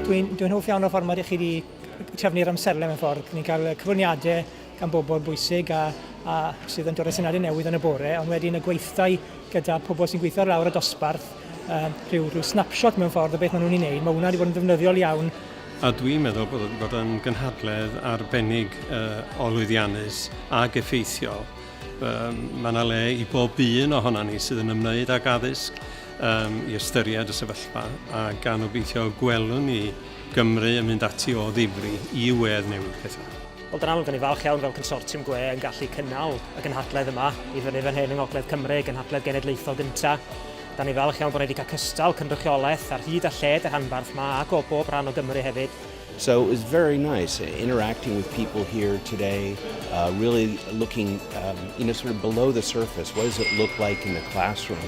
Dwi'n dwi hoff iawn o'r ffordd mae chi wedi trefnu'r amserlen mewn ffordd. Ni'n cael cyflwyniadau gan bobl bwysig a, a sydd yn dod â syniadau newydd yn y bore, ond wedyn y gweithdai gyda pobl sy'n gweithio lawr y dosbarth, um, rhyw, rhyw snapshot mewn ffordd o beth maen nhw'n ei wneud. Mae hwnna wedi bod yn ddefnyddiol iawn A dwi'n meddwl bod o 'di bod yn gynhadledd arbennig o lwyddiannus ac effeithiol. Mae 'na le i bob un ohonan ni sydd yn ymwneud ag addysg i ystyried y sefyllfa, a gan obeithio gwelwn ni Gymru yn mynd ati o ddifri i wedd newid pethau. Wel, dan amlwg, dan ni'n falch iawn fel consortiwm gwe yn gallu cynnal y gynhadledd yma i fyny fan hyn yng Ngogledd Cymru, gynhadledd genedlaethol gynta'. Da ni falch iawn bod ni wedi cael cystal, cynrychiolaeth ar hyd a lled y rhanbarth ma ac o bob rhan o Gymru hefyd. So it was very nice uh, interacting with people here today, uh, really looking, um, you know, sort of below the surface. What does it look like in the classroom?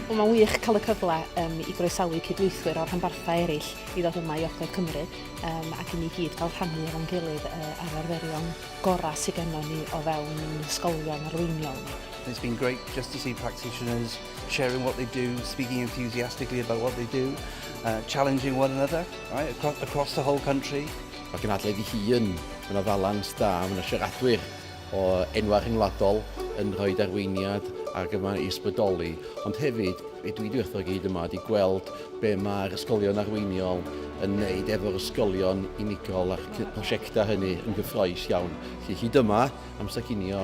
Wel, mae'n wych cael y cyfle um, i groesawu cydweithwyr o'r rhanbarthau eraill i ddod yma i Ogledd Cymru um, ac i ni gyd gael rhannu efo'n gilydd uh, ar arferion gorau sydd gennym ni o fewn ysgolion arweiniol. It's been great just to see practitioners sharing what they do, speaking enthusiastically about what they do, uh, challenging one another right, across, across the whole country. Mae gynadledd i hi yn yna ddalans da, mae yna siaradwyr o enwau rhyngwladol yn rhoi darweiniad ac yma i ysbrydoli, ond hefyd be dwi wedi wrtho gyd yma ydy gweld be mae'r ysgolion arweiniol yn wneud efo'r ysgolion unigol a'r prosiectau hynny yn gyffroes iawn. Felly hyd yma, amser cinio,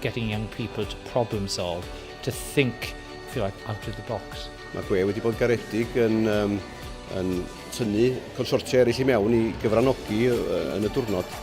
getting young people to problem solve, to think, if you like, out of the box. Mae gwe wedi bod garedig yn, um, yn tynnu consortia eraill i mewn i gyfranogi yn y diwrnod.